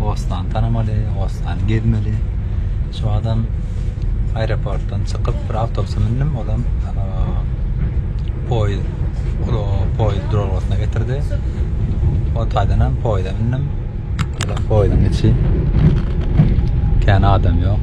Oslany tanamaly, Oslany gezmeli. Şu wagtam aeroportdan çykyp bir awtobusa mündim, olam poýuz poýuz duralgasyna getirdi. O taýdan hem poýuza mündim. Olam poýuzyň içi kän adam ýok.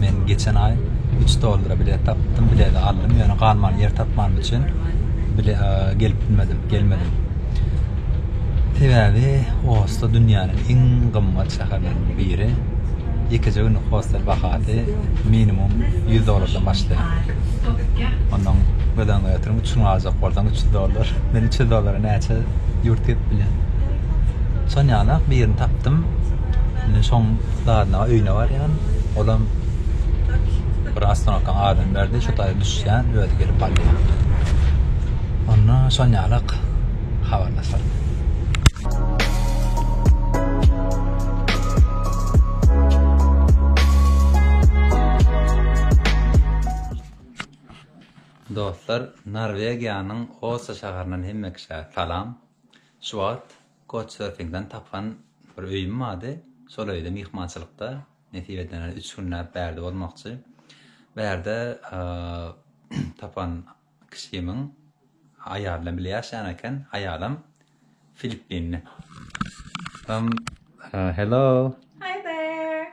Men geçen aý üç dollara bilet tapdym, bileti aldym, ýöne galman ýer tapmanym üçin bile gelip bilmedim, gelmedim. Sebäbi Oslo dünýäniň iň gymmat şäherleriniň biri. Ýekeje günlük hostel bahasy minimum 100 dollardan başlaýar. Ondan göz öňünde ýatyryň, üç gün galjak bolsaň 300 dollar. Men 300 dollara näçe ýurt gezip bilýän. Şonýaly birini tapdym. Indi şoň dadyna öýüne barýan. Olam bir astronawtdan adam berdi, şu taýda düşýän, özi gelip alýar. Onda şon ýalak habarlaşar. Dostlar, Norwegiýanyň Osa şäherinden hemme kişä salam. Şu wagt Couchsurfingden tapan bir öýüm bardy. Şol öýde myhmançylykda, nesip edende üç günläp bärde bolmakçy. Bärde tapan kişimiň aýaly bilen bile ýaşaýan eken. Aýalam filippinli. Hello. Hi there.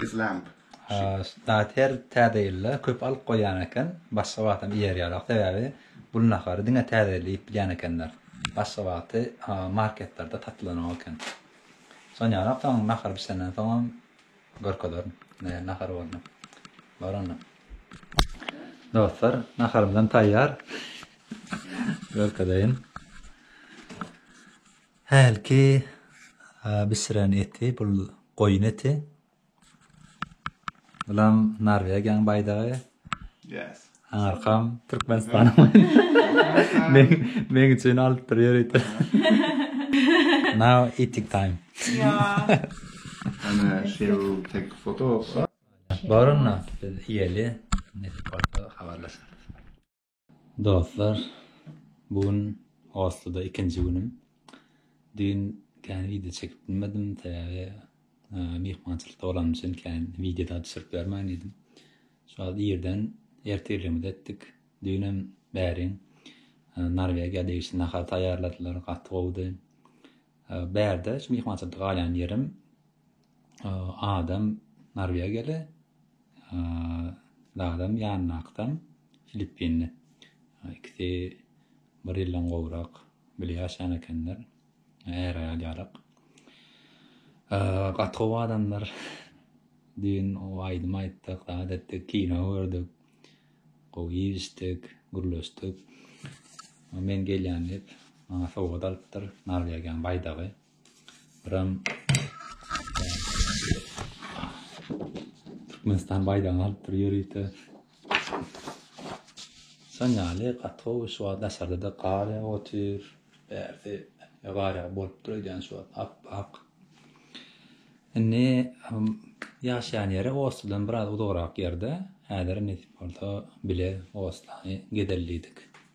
This lamp. Zat her Täze ýylda köp alyp goýýan eken, başga wagtam iýerýärok, sebäbi bul nahary diňe Täze ýylda iýip bilýän ekenler. Başga wagty marketlerde satylanok eken. Sonýanok, soň nahar bişenden soňam görkezerin nähili nahar boldy. Bar onda. Dostlar, naharymyzam taýýar. Görkezeýin. Hälki bişiren eti bul goýun eti. Bulam Norwegiýaň baýdagy. Yes. Arkam Türkmenistanyň baýdagy. Meň üçin alypdyr ýörite. Now eating time. Ana şew tek foto bolsa. Bar onda biz iýeli. Neti bolsa habarlaşarys. Dostlar bu gün Osloda ikinji günüm. Düýn kän wideo çekip bilmedim, sebäbi myhmançylykda bolanym üçin kän wideo-da düşürip bermän diýdim. Şu wagt irden ertirligimizi etdik. Düýnem bäriň Norwegiýa degişli nahar taýýarladylar, gaty gowudy. Bärde şu myhmançylykda galýan ýerim Adam Norwegiýaly, Dadam ýanyndakydan Filippinli. Ikisi bir ýyldan gowrak bile ýaşan ekenler. Är-aýal ýalyk. Gaty gowy adamlar. Düýn aýdym aýtdyk, zat etdik, kino gördük. Gowy iýişdik, gürleşdik. Men gelýän diýip, maňa sowgat alypdyr, Norwegiýanyň baýdagy. Ram. Türkmenistan baýdagyny alyp bir ýörite. Sen ýaly gatowy şu wagt daşarda-da gar ýagyp otyr. Bärde gar ýagyp bolupdyr öýdýän şu wagt ap-ak. Indi ýaşaýan ýeri Ostadan biraz uzagrak ýerde. Häzir nesip bolsa bile Ostany gezellidik.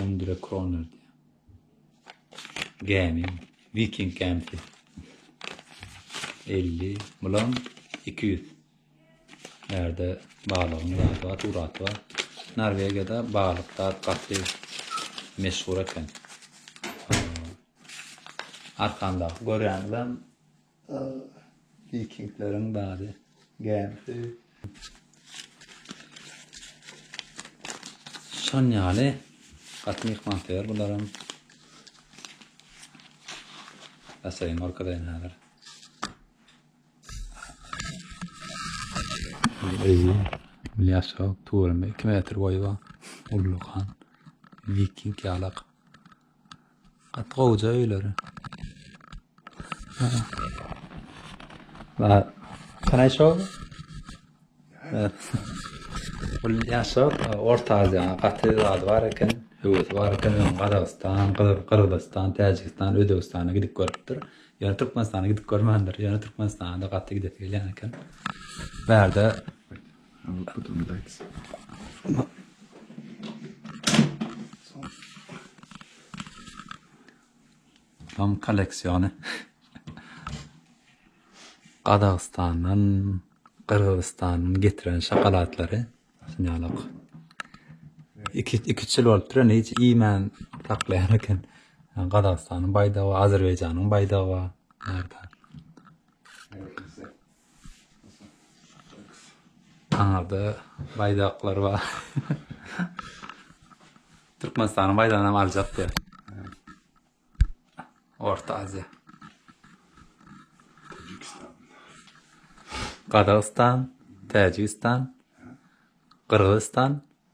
Hundre kroner diýýär. Gämi, Viking gämisi. 50, bulam 200. Närde balygyň zady bar, suraty bar. Norwegiýada balyk zat gaty meşhur eken. Arkamdaky görýäniňizem Vikingleriň bary gämisi. Şan ýaly gaty myhmansöýer bularam. Asaýyn orkadaýyn häzir. Ezi, bilýäsok, tuwrymy 2 metr boýy bar. Ullukan, viking ýalak. Gaty gowja öýleri. Ba, can I show? Bul ýaşa Orta Aziýa gaty zady bar eken, höwesi bar eken, Gazagystan, Gyrgyzystan, Täjigistan, Özbegistana gidip görüpdir. Ýöne Türkmenistana gidip görmändir. Ýöne Türkmenistana gaty gidesi gelýän eken. Bärde Dom kolleksiýony. Gazagystandan, Gyrgyzystandan getiren şokolatlary. Synýalok. Iki, iki çil bolup duran, hiç iýmän saklaýan eken. Gazagystanyň baýdagy, Azerbaýjanyň baýdagy bar. Nerede? Aňyrda baýdaklar bar. Türkmenistanyň baýdagyny hem aljak diýär. Orta Aziýa. Gazagystan, Täjigistan, Gyrgyzystan,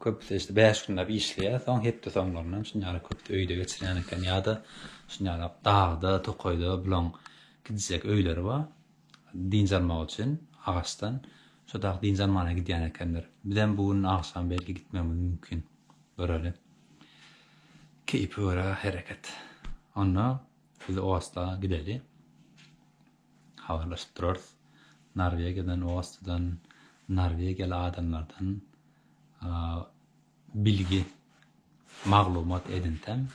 Köpüsi işte bäş günläp işleýär, soň hepde soňlaryny hem şuny ýaly köp öýde geçirýän eken, ýa-da şuny ýaly dagda, tokaýda bularyň gidijek öýleri bar, dynç almak üçin agaçdan, şo dag dynç almana gidýän ekenler. Bizem bu gün agşam belki gitmegimiz mümkin, göreli. Keýpe görä hereket. Onda biz o asla gideli. habarlaşyp durarys. Norwegiýadan, Ostadan, norwegiýaly adamlardan bilgi, maglumat edinsem,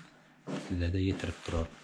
size-de ýetirip duraryn.